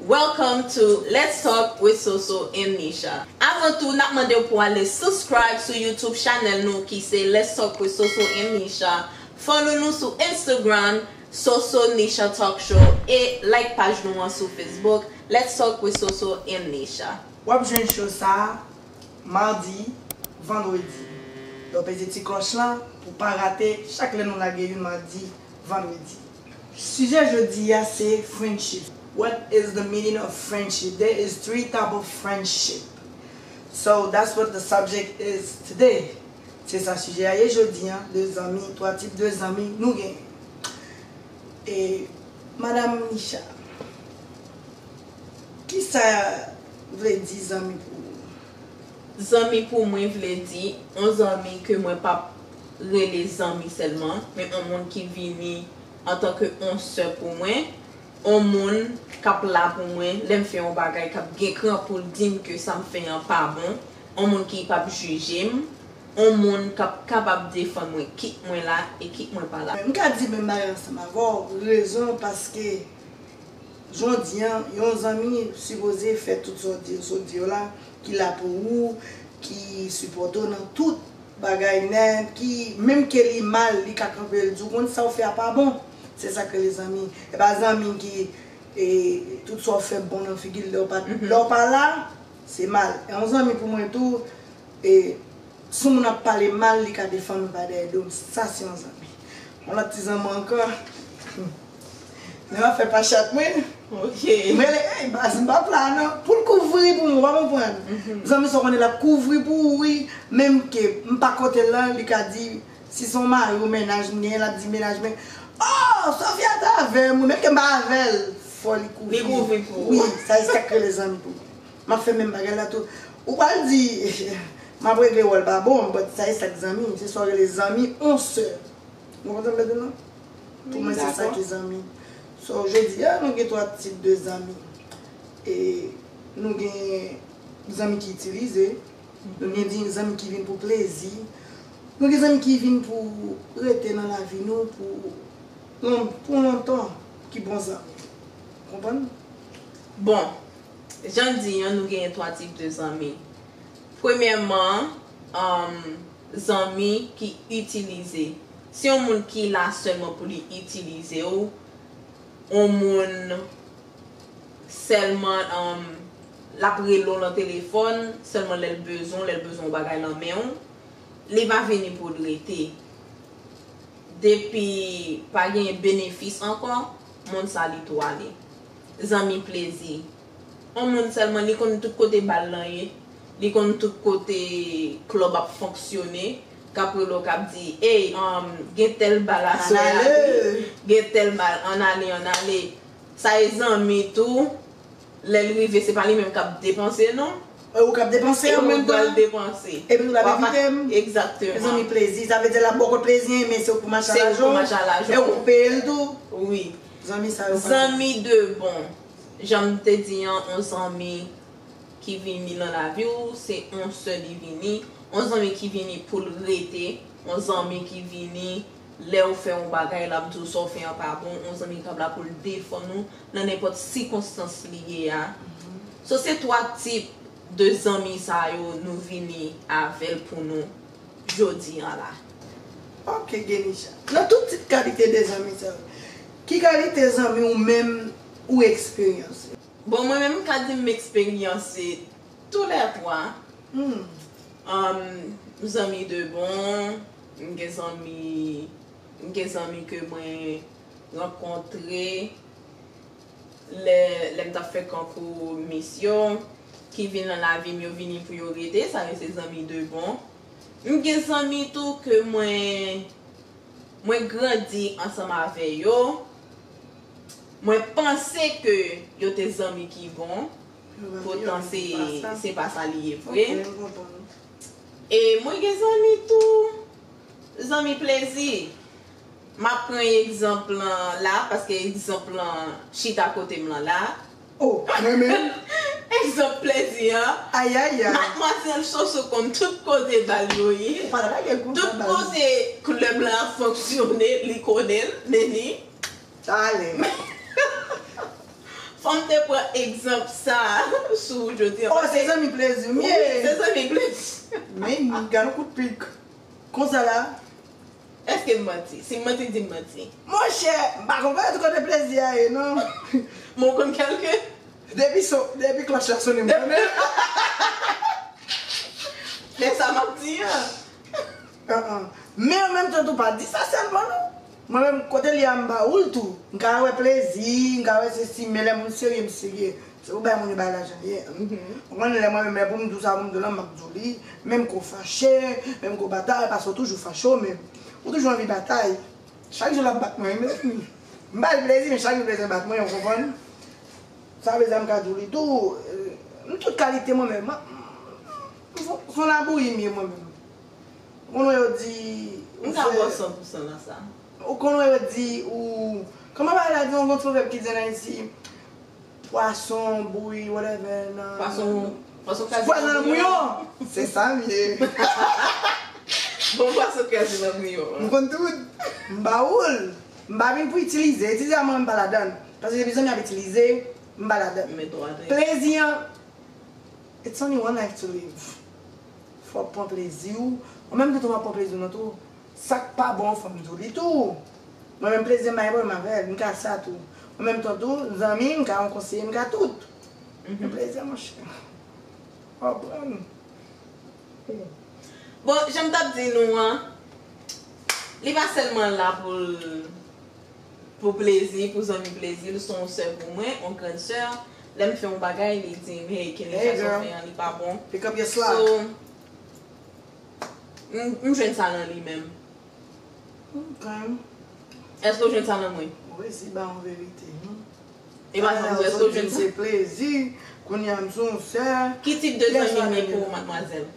Welcome to Let's Talk with Soso and Misha Avan tou nap mandew pou ale subscribe sou YouTube channel nou ki se Let's Talk with Soso and Misha Follow nou sou Instagram SosoNishaTalkShow e like paj nou an sou Facebook Let's Talk with Soso and Misha. Wap jwenn show sa Mardi, Vendredi. Don peze ti klòch lan pou pa rate chak lè nou lage youn Mardi, Vendredi. Sijè jodi a se friendship. What is the meaning of friendship? There is three type of friendship. So that's what the subject is today. Se sa sijè a ye jodi a. De zanmi, twa tip de zanmi nou genyen. E madam Nicha, kisa vle di zanmi pou ou? Zanmi pou mwen vle di on zanmi ke mwen pap rele zanmi sèlman, men on moun ki vini antan ke on sè pou mwen, on moun kap la pou mwen lèm fè on bagay kap gen kran poul dim ke sam fè an pa bon, on moun ki pap jijem, on moun kap kapab defann mwen kit mwen la e kit mwen pa la. Mwen ka di menm bagay ansanm avèw, rezon paske Jodi an, yon zanmi sipoze fè tout sa w di yo sot di yo la, ki la pou ou, ki sipòte w nan tout bagay nèt, ki menm ke li mal li ka kanpe l di w konn sa w fè a pa bon. Se sa k rele zanmi. E pa zanmi ki tout sa w fè bon nan figi l lè w pa lè w pa la, se mal. E yon zanmi pou mwen tou, si yon moun ap pale mal li ka defann ou pa dèyè do m, sa se yon zanmi. Yon lòt ti zanman ankò. Nan afè pa chat mwen. Ok. Mwen le ey baz m pa pla nan. Poul kouvri pou mwen ou pa konprann. Zanmi sa w konnen lap kouvri pou ou wi. Menm ke m pa kote lan li ka di si son mari ou mennaj m genyen lap di mennaj mwen. Oh Sofia ta avèm wi menm ke m pa avèl fò li kouvri. Li kouvri pou ou. Wi sa e sak rele zanmi pou mwen. Map fè menm bagay la tou. Ou pral di map regle wòl pa bon but sa e sak zanmi, se sa w rele zanmi on sè. Nou konprann sa m vle di nou? Pou mwen se sa ki zanmi. So jodi a nou gen 3 tip de zanmi. E nou gen zanmi ki itilize, nou gen di zanmi ki vin pou plezi, nou gen zanmi ki vin pou rete nan lavi nou pou lontan, ki bon zanmi. Konprann? Bon. Jan n di an, nou genyen twa tip de zanmi. Premyèman, zanmi ki itilize. Se yon moun ki la sèlman pou li itilize w, yon moun sèlman l ap rele w lan telefòn sèlman lè l bezwen w, lè l bezwen yon bagay lan men w. Li va vini pou l rete. Depi pa gen benefis ankò, moun sa li tou ale. Zanmi plezi. On moun selman li konn tout kote bal lan ye, li konn tout kote club ap fonksyone, kap rele w kap di ey anm gen tel bal aswè a wi, gen tel bal ann ale ann ale. Sa e zanmi tou, lèl rive se pa li menm kap depanse non. E ou kap depanse an menm tan. E ou pral depanse. Epi ou tap envite m. Exactement. Zanmi plezi. Sa vle di lap bò w kòd plezi an men se ou k pou mach a lajon. Se ou k pou mach a lajon. E ou k pou peye l tou. Wi. Zanmi sa yo pa. Zanmi de bon. Janm te di an on zanmi ki vini lan lavi w se on sè li vini, on zanmi ki vini poul rete, on zanmi ki vini lèw fè on bagay lap diw sa w fè an pa bon, on zanmi kap la poul defann ou nan nenpòt sikonstans li ye a. So se 3 tip de zanmi sa yo nou vini avèl pou nou. jodi an la. Ok Genisha. Nan tout tip kalite de zanmi sa yo, ki kalite zanmi ou menm ou eksperyanse? Bon mwen menm m ka di m eksperyanse tou lè twa. Humm zanmi de bon, m gen zanmi m gen zanmi ke mwen rankontre. lè lè m t ap fè konkou Miss yo ki vin nan lavi m yo vini pou yo rete sa yo se zanmi de bon m gen zanmi tou ke mwen mwen grandi ansanm avè yo mwen panse ke yo te zanmi ki bon poutan se se pa sa li ye vre e mwen gen zanmi tou zanmi plezi. M ap pran egzanp lan la paske egzanp lan chita kote m lan la. O, pa renmen l? Egzanp plezi an. Ayayay! Madmwazèl Soso konn tout kote bal yo ye. Ou pa lage gou sa baz. Tout kote klèb lan ap fonksyone, li konnen l, men li. Tale. Fò m te pran egzanp sa a sou ou jodi an. O, se zanmi plezi m ye! Wi, se zanmi plezi. Men, gad yon kout pik. Konsa la. Eske m manti? Si m manti, di m manti. Monchè, m pa konprann tout kote plezi a ye non. Men w konn kèlke? Depi son, depi klòch la sone m konnen l. Men sa m ap di an. An an. Men an menm tan tou pa di sa sèlman non. Mwen menm, kote l ye a m ba ou l tou. M ka wè plezi, m ka wè sesi men lè moun serye m serye. Se pou bay moun yo bay lajan ye ou konn lè mwen menm lè poum di w sa poum di w lan map di w li menm ke w fache menm ke w batay paske w toujou fache w menm ou toujou anvi batay chak jou lap bat mwen mezanmi m bay l plezi men chak jou l bezwen bat mwen ou konprann sa vle di a m ka di w li tou m tout kalite mwen menm m son labouyi m ye mwen menm ou konn wè yo di m ka ba w san pou san nan sa ou konn wè yo di ou kòman bagay la di an gon pwovèb ki di an ayiti. Pwason bouyi whatever nan. Pwason pwason kazi nan bouyon. Pwason nan bouyon. Se sa m ye. Bon pwason kazi nan bouyon. M konn tout. M ba ou l. M pa vin pou itilize. Itilize a mwen m pa ladan l. Paske depi zanmi ap itilize, m pa ladan l. Men ton adrè. Plezi an It's only one life to live. Fò w pran plezi w. Ou menm tou tou wap pran plezi w nan tou. Sa k pa bon fò m di w li tou. Mwen menm plezi m bay mwen menm avè l, m ka sa tou. Mwen menm ton tou, zanmi, m ka yon konseye, m ka tout. Men plezi an monchè, fò w pran l. Bon, jan m t ap di nou an, li pa sèlman la pou l pou plezi, pou zanmi plezi, l s on sè pou mwen, on grann sè. Lè m fè yon bagay, li di m, hey Kenly, sa sa w fè an li pa bon. So, m jwenn sa nan li menm. Ok. Eske w jwenn sa nan mwen? Ou resi ba yon verite non. E pa janm di w eske w jwenn sa. Se plezi, kounye a m se yon sè. Ki tip de zanmi m ye pou ou madmwazèl?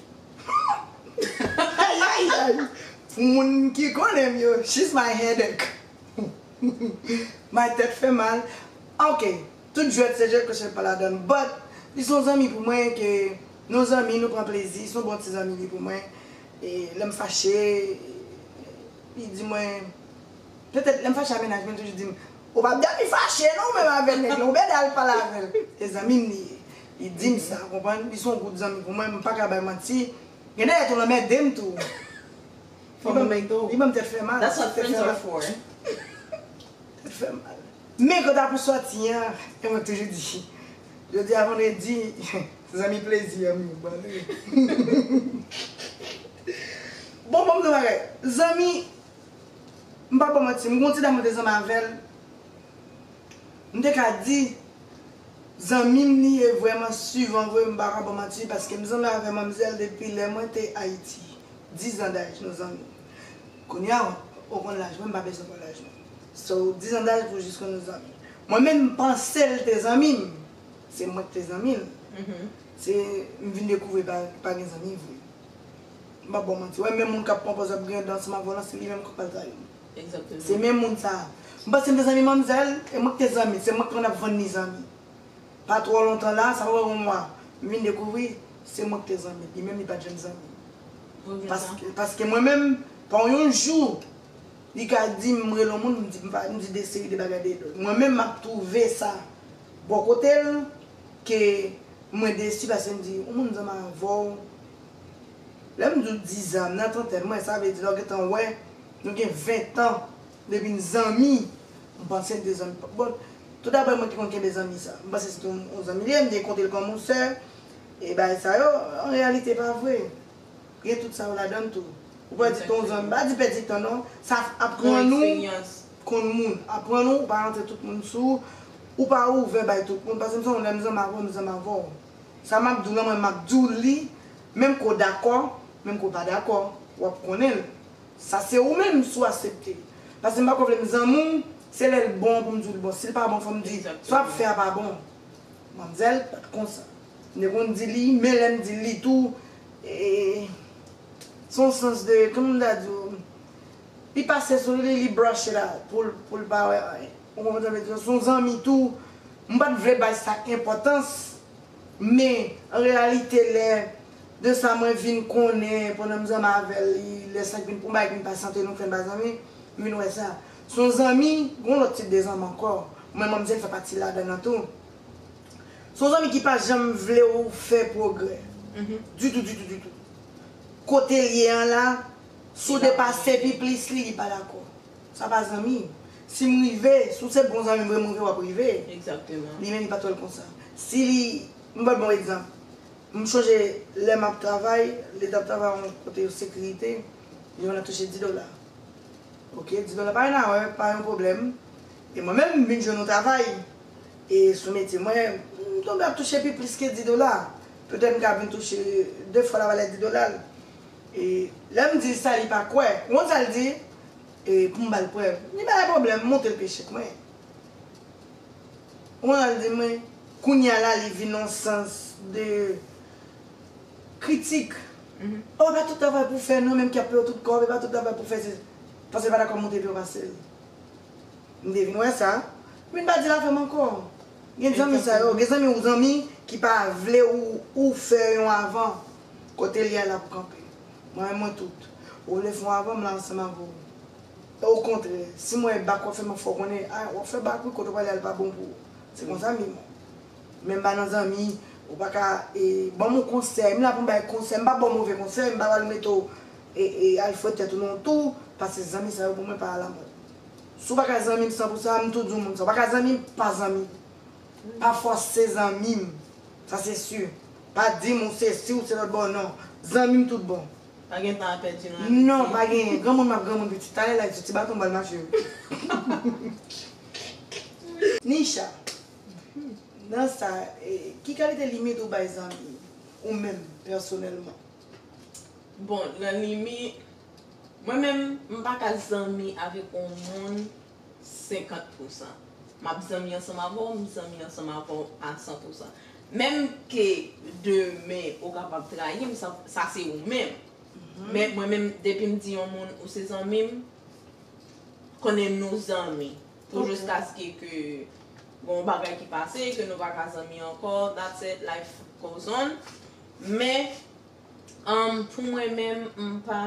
Ayayayay! Pou moun ki konnen m yo, she's my headache. My tèt fè mal. Ok, tout jwèt se jwèt kochèt pa ladan l. But, li se yon zanmi pou mwen ke nou zanmi, nou pran plezi, se yon bon ti zanmi li pou mwen. Lè m fache, li di mwen, petèt lè m fache a mennaj mwen toujou di m, ou pa p dòmi fache non ou menm avè nèg lan, ou bèda al pale avè l. Se zanmi m li ye. Li di m sa, ou konprann, li se yon gout zanmi pou mwen, m pa ka bay manti. Gen dèyè tou l anmède m tou. Fò m anmède ou. Li ban m tèt fè mal. That's what friends are for. Tèt fè mal. Men kanta pou sòti an, mwen toujou di. Jodi a vandredi zanmi plezi an nou ban nou. Bon banm di yon bagay zanmi m pap ban manti m gon ti dam mwen te zanmi avèl m te ka di zanmi m li ye vrèman suvan vre m paka ban manti paske m zanmi avè manmzèl depi lè mwen te ayiti 10 ans daj nou zanmi kounya ou konn laj mwen m pa bezwen konn laj nou so 10 ans daj pou jis konn nou zanmi Mwen menm m panse l te zanmi m, se mwen k te zanmi l, se m vin dekouvri l pa gen zanmi vre. M pap ba w manti, wè menm moun k ap pran pòz ap griyen dan ansanm avè w lan se li menm k pral trayi w. Se menm moun sa a. M panse m te zanmi manmzèl, e mwen k te zanmi l, se mwen k te konn ap vann li zanmi. Pa twò lontan la, sa pa pran yon mwa, m vin dekouvri se mwen k te zanmi l, li menm li pat janm zanmi m. Paske mwen menm, pa yon jou. Li ka di m rele yon moun m di m pa m di de seri de bagay de lòt. Mwen menm m ap twouve sa bò kote l ke mwen desi paske m di yon moun zanman avè w lè m di w dizan m nan trantèn mwen sa vle di lè w gentan wè nou gen ventan depi n zanmi m panse n te zanmi pa bon tou daprè mwen ki konn kenbe zanmi sa m panse se te yon zanmi li ye m te konte l kòm yon sè e bagay sa yo an reyalite pa vre Gen tout sa yo ladann tou. Ou pa di ton zòn, pa di pèdi tan non. Sa aprann ou konn moun. Aprann ou ou pa rantre tout moun sou ou. Ou pa ouvè bay tout moun. Pase m sanw lèm zanmi avèw m zanmi avèw. Sa map diw la mwen map diw li menm ke w dakò, menm ke w pa dakò. Wap konnen l. Sa se ou menm si w asepte. Pase m pako vle m zanmi w se lè l bon pou m diw li bon. Si l pa bon fòm di sa wap fè a pa bon. Manmzèl pat konsa. M te konn di li men lèm di li tou. Se yon sans de, kòman m ta di w, li pase sou li, li brush it out pou l pa wè anyen. Ou konprann sa m vle di w? Se yon zanmi tou, m pa t vle bay sa enpòtans, men an reyalite lè, de sa mwen vin konnen pandan m zanmi avè l, lè sa k vin, yon bagay k vin pa sante nou fè n pa zanmi, m vin wè sa. Se yon zanmi, gen yon lòt tip de zanmi ankò, mwen manmzèl fè pati ladan l lan tou. Se yon zanmi ki pa janm vle w fè pwogrè. Ditou, ditou, ditou. Kote l ye an la, si w depase pi plis li, li pa dakò. Sa pa zanmi. Si m rive, si w se bon zanmi m vre, m rive w ap rive. Li menm li pa t wè l konsa. Si li, m ba w bon egzanp. M chonje lè m ap travay, li t ap travay yon kote yon sekirite, yon l ap touche 10 dola. Ok, 10 dola pa yon nawè, pa yon pwoblèm. E mwen menm, m vin jwenn yon travay. E sou metye mwen, m tonbe ap touche pi plis ke 10 dola. Petèt m ka vin touche 2 fwa lavalè 10 dola l. E lè m di l sa li pa kwè. Ou konn sa l di? E pou m ba l prèv. Li pa gen pwoblèm, m montre l pye chèk mwen. Ou konn sa l di m? Kounye a la li vin nan sans de kritik. O e pa tout travay pou w fè non, menm ki ap peye w tout kòb, e pa tout travay pou w fè se. Paske l pa dakò m montre l pi wo pase l. M te vin wè sa. M vin pa di l afè m ankò. Gen zanmi sa yo, gen zanmi ou zanmi ki pa vle ou fè yon avan. Kote li a l ap kanpe. Mwen menm mwen tout. Ou vle fè yon avan m la ansanm avè w. E okontrè, si m wè e bak w ap fè m ap fè w konnen, a w ap fè bak wi kote w prale a l pa bon pou ou. Se konsa m ye menm. Men m pa nan zanmi ou pa ka e ban m yon konsèy. M la pou m bay konsèy. M pa ba w move konsèy. M pa pral mete w e al fouye tèt ou nan yon tou. Pase zanmi sa yo pou mwen pa alamòd. Si w pa ka zanmi m san pou sa, m tou di w moun sa. W pa ka zanmi m, pa zanmi. Pa fòse zanmi m. Sa se si. Pa di m ou se si, ou se lòt bon, non. Zanmi m tout bon. Pa gen tan a pèdi nan amitye. Non, pa genyen. Granmoun m ap granmoun pitit. Talè la, li sou ti baton m pral mache yo. Nicha, nan sa, ki kalite limit ou bay zanmi ou menm pèsonèlman? Bon, nan limi, Mwen menm m pa ka zanmi avèk on moun 50 pousan. M ap zanmi ansanm avè w, m zanmi ansanm avè w a 100 pousan. Menm ke demen ou kapab trayi m, sa se ou menm. Men mwen menm depi m di on moun ou se zanmi m, konnen nou zanmi pou jiskaske ke gen on bagay ki pase ke nou pa ka zanmi ankò, that's it, life goes on. Men. Humm pou mwen menm m pa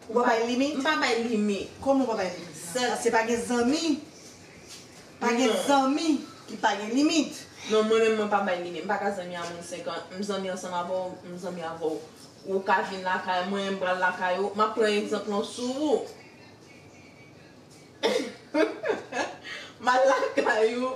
Ou pa bay limit? M pa bay limit. Kòman ou pa bay limit la? Sèl Paske pa gen zanmi Pa gen zanmi ki pa gen limit. Non mwen menm mwen pa bay limit. M pa ka zanmi a moun 5 an. M zanmi ansanm avè w, m zanmi avè w. Ou ka vin lakay mwen, m pral lakay ou. M ap pran egzanp lan sou ou. M al lakay ou,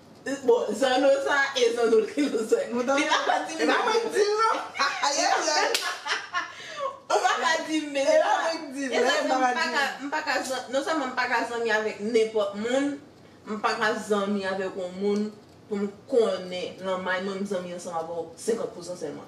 Bon zanno sa e zanno li nou swe. Li pa ka di m mezanmi. Ou pa ka di m mezanmi. E sa fè m pa ka m pa ka zanmi non sèlman m pa ka zanmi avèk nenpòt moun, m pa ka zanmi avèk yon moun pou m konnen lanmay mwen m zanmi ansanm avè w 50 pousan sèlman.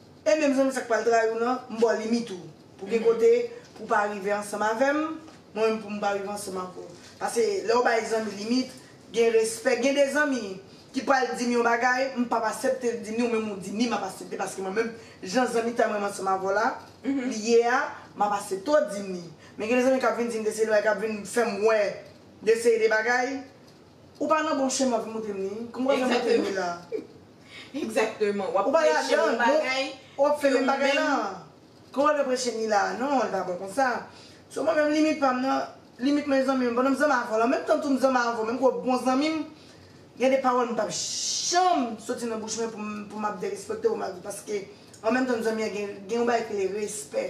E menm zanmi sak pral trayiw nan m baw limit ou pou gen kote pou pa rive ansanm avèm mwen menm poum pa rive ansanm avèw pase lèw bay zanmi limit gen respè gen de zanmi ki pral dim yon bagay m pap asepte l dim ni ou menm ou di ni map asepte paske mwen menm jan zanmitay mwen ansanm avèw la li ye a map asepte w dim ni men gen de zanmi kap vin dim de seri de bagay kap vin fèm wè de seri de bagay Ou pa nan bon chemen wap vin moutem ni. Kòmkwa jan moutem ni la. Exactement. Wap preche yon bagay. Wap fè menm bagay la. Kòmkwa jan preche ni la. Non li pa bon konsa. So mwen menm limit pam nan. Limit mwen zanmi m. Pandan m zanmi avèw lan. Menm tan tou m zanmi avèw. Menm ke w bon zanmi m. Gen de pawòl m pap janm soti nan bouch mwen pou m ap derespektew malgre paske an menm tan zanmi an gen yon bagay ki rele respè.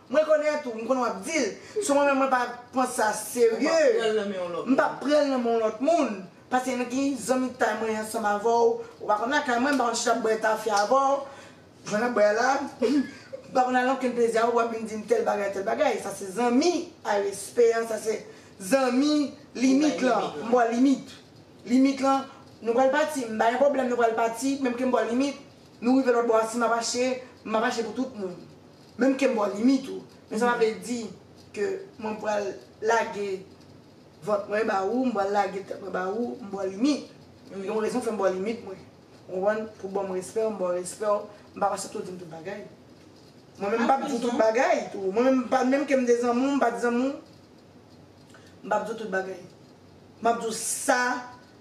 M rekonèt ou, m konnen w ap di l. Sou mwen menm mwen pa pran sa serye. M pa pran l nan men yon lòt moun. Paske nan ki zanmitay mwen ansanm avè w. Ou pa konn lakay mwen, m pa konn chita bwè tafya avè w. Jwenn nan bwè a la. M pa konn al ankenn plezi avè w pou w ap vin di m tèl bagay, tèl bagay. Sa se zanmi a respè an. Sa se zanmi limit lan. M bò limit. Limit lan, nou pral pati. M pa gen pwoblèm nou pral pati. Menm ke m bò limit. Nou rive lòt bò a, si m ap achte, m ap achte pou tout moun. Menm kem bò limit ou. Men sa pa vle di ke mwen pral lage vant mwen ba ou, m pral lage tèt mwen ba ou, m bò limit. Men gen yon rezon fè m bò limit mwen. Ou konprann? Pou banm respè w, m ba w respè w. M pa pase tou di m tout bagay. Mwen menm m pap di w tout bagay tou. Mwen menm m pa menm kem de zanmi w, m pa di zanmi w, m pap di w tout bagay. M ap di w sa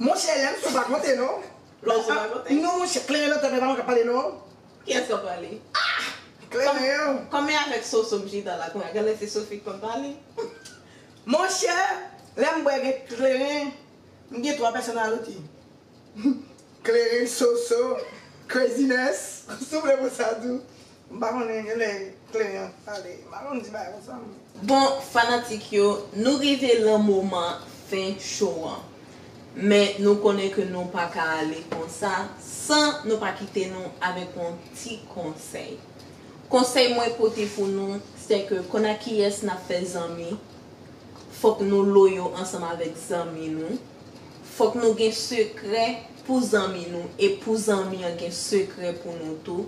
Monchè lèm sou pa konte non. Lèm sou pa konte. Non monchè kleren nan tèt mwen pa konn kap pale non. Kiyès kap pale? Ah! Kleren yo. Kòm e avèk Soso m chita la kounya genlè se Sofi ki konn pale. Monchè lèm bwè gen kleren m gen 3 pèsonaliti. Kleren, Soso, Craziness. Souple pou sa tou. M pa konnen gen lè kle an pale m pa konn di bagay konsa m. Bon fanatik yo nou rive lan moman fen show an men nou konnen ke nou pa ka ale konsa san nou pa kite nou avèk on ti konsèy konsèy mwen pote pou nou sè ke konn a kiyès nap fè zanmi fòk nou loyo ansanm avèk zanmi nou fòk nou gen sekrè pou zanmi nou e pou zanmi an gen sekrè pou nou tou.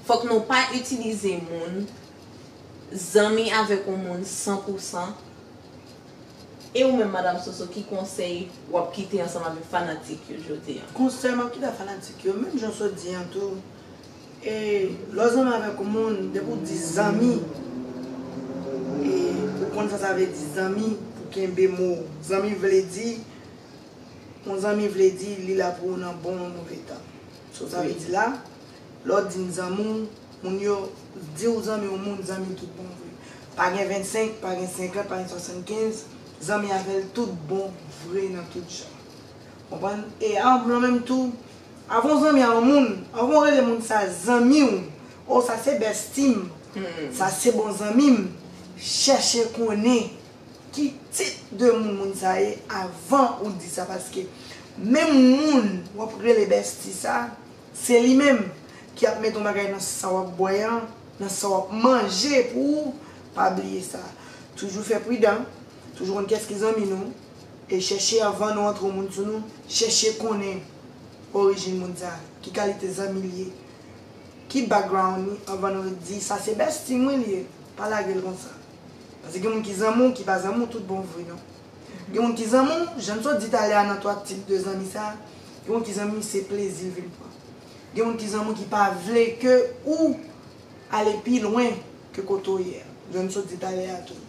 Fòk nou pa itilize moun, zanmi avèk yon moun san pou san. E ou menm madam Soso ki konsèy wap kite ansanm avèk fanatik yo jodi an? Konsèy map kite ak fanatik yo menm jan sot di an tou e lèw zanmi avèk yon moun depi ou di zanmi e ou konn sa sa vle di zanmi pou kenbe mo zanmi vle di yon zanmi vle di li la pou ou nan bon ou move tan. Saw ta vle di la? Lè w di m zanmi w, moun yo di w zanmi yon moun, zanmi l tout bon vre. Pa gen 25, pa gen 50, pa gen 75, zanmi avè l tout bon vre nan tout jan. Konprann? E anm lan menm tou, avan w zanmi a yon moun, avan w rele moun sa zanmi w, o sa se besti m, sa se bon zanmi m, chèche konnen. Ki tit de moun moun sa ye avan ou di sa paske menm moun wap rele bestie sa se li menm ki ap met on bagay nan sa wap bwè an nan sa wap manje pou ou pa bliye sa toujou fè pridan toujou konn kès ki zanmi nou e chèche avan nou antre on moun sou nou chèche konnen orijin moun sa ki kalite zanmi li ye ki background li avan nou di sa se bestie mwen li ye pa lagel konsa. Paske gen moun ki zanmi w ki pa zanmi w tout bon vre non. Gen moun ki zanmi w, jan n sot di talè a nan 3 tip de zanmi sa, gen moun ki zanmi w se plezi l vin pran. Gen moun ki zanmi w ki pa vle ke ou ale pi lwen ke kote w ye a, jan n sot di talè a tou.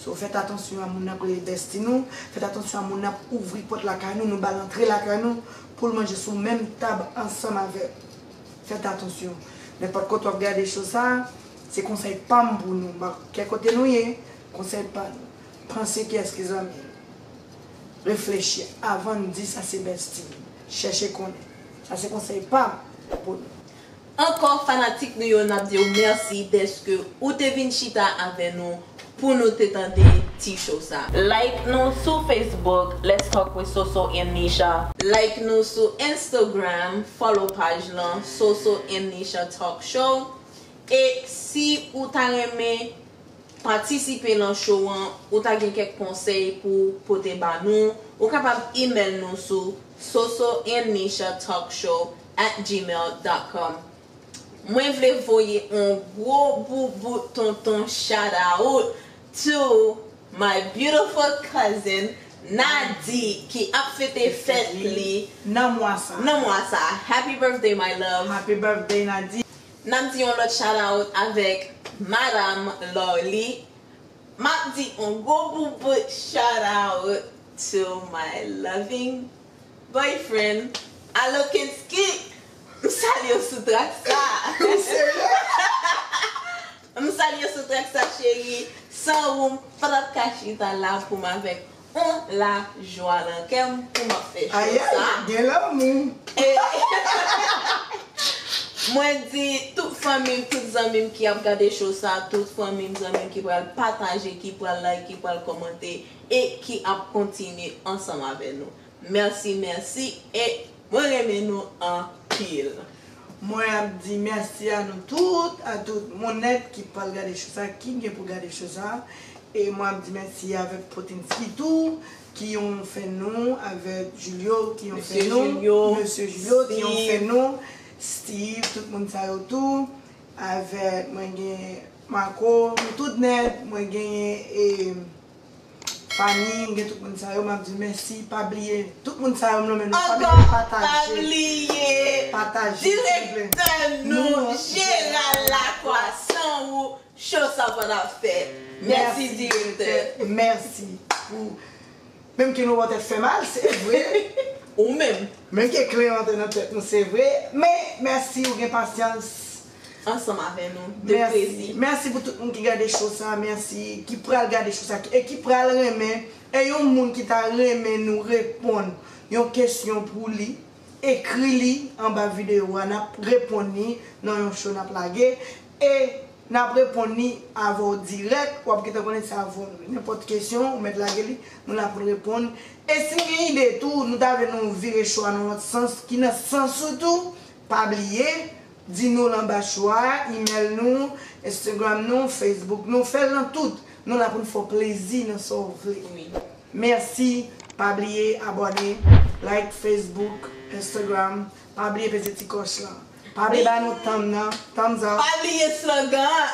So fèt atansyon a moun n ap rele besti nou, fèt atansyon a moun n ap ouvri pòt lakay nou, nou ba l antre lakay nou pou l manje sou menm tab ansanm avè w. Fèt atansyon. Nenpòt kote wap gade show sa, se konsèy pam pou nou. Ba kè kote nou ye, konsèy pa nou. Panse kiyès ki zanmiw. Reflechi avann di sa se bestie m. Chèche konnen. Sa se konsèy pam pou nou. Ankò fanatik nou yo nap diw mèsi dèske ou te vin chita avè nou Pou nou te tande ti show sa. Like nou sou Facebook let's talk with Soso and Nisha. Like nou sou Instagram follow paj lan Soso and Nisha talk show e si ou ta renmen patisipe lan show an ou ta gen kèk konsèy pou pote ba nou ou kapab email nou sou sosoandnishatalkshow at gmail dot com. Mwen vle voye on gwo boubout tonton shout out to my beautiful cousin Nady ki ap fete fèt li nan mwa sa happy birthday my love Nap di on lòt shout out avèk madam Lorly Map di on gwo boubout shout out to my loving Boyfriend, Allo Kensky! M salye w sou trak sa a. Ou serye? M salye w sou trak sa cheri. San ou m pa t ap ka chita la pou m avèk ou lajwa nan kè m pou m ap fè cho sa. Ayayy! Gen lanmou! Mwen di tout fanmi m, tout zanmi m ki ap gade cho sa, tout fanmi m, zanmi m ki pral pataje, ki pral like, ki pral kòmante. e ki ap kontinye ansanm avè nou merci merci e mwen renmen nou anpil. Mwen ap di merci a nou tout a tout moun net ki pral gade show sa ki gen pou gade show sa e mwen ap di merci avek potinski tou ki yon fè nou avek julio ki yon fè nou mesye julio ki yon fè nou steeve tout moun sa yo tou avek mwen gen marco nou tout net mwen genyen e. Fanmi m gen tout moun sa yo map di mèsi pa bliye tout moun sa yo m lonmen nou fanmi mwen pataje pataje silvouplè mèsi direktè mèsi pou menm ke nou wè tèt fè mal se vre menm ke kle antre nan tèt nou se vre men mèsi ou gen pasyans ansanm avè nou de plezi. Merci merci pou tout moun ki gade show sa merci ki pral gade show sa e ki pral renmen e yon moun ki ta renmen nou reponn yon kesyon pou li ekri li anba video wa nap reponn ni nan yon show nap lage e nap reponn ni avèw dirèk wap gentan konnen sa avèw nou nenpòt kesyon ou mèt lage li nou la poun reponn e sin gen ide tou nou ta vle nou vire show a nan lòt sans ki nan sans ou tou pa bliye Di nou l anba chwa a, imèl nou, Instagram nou, Facebook nou, fè l nan tout, nou la pou n fè w plezi nan sa w vle. Mèsi, pa bliye abòne, like Facebook, Instagram, pa bliye peze ti kòch lan. Pa bliye ba nou tanm nan, thumbs up. Pa bliye slogan an,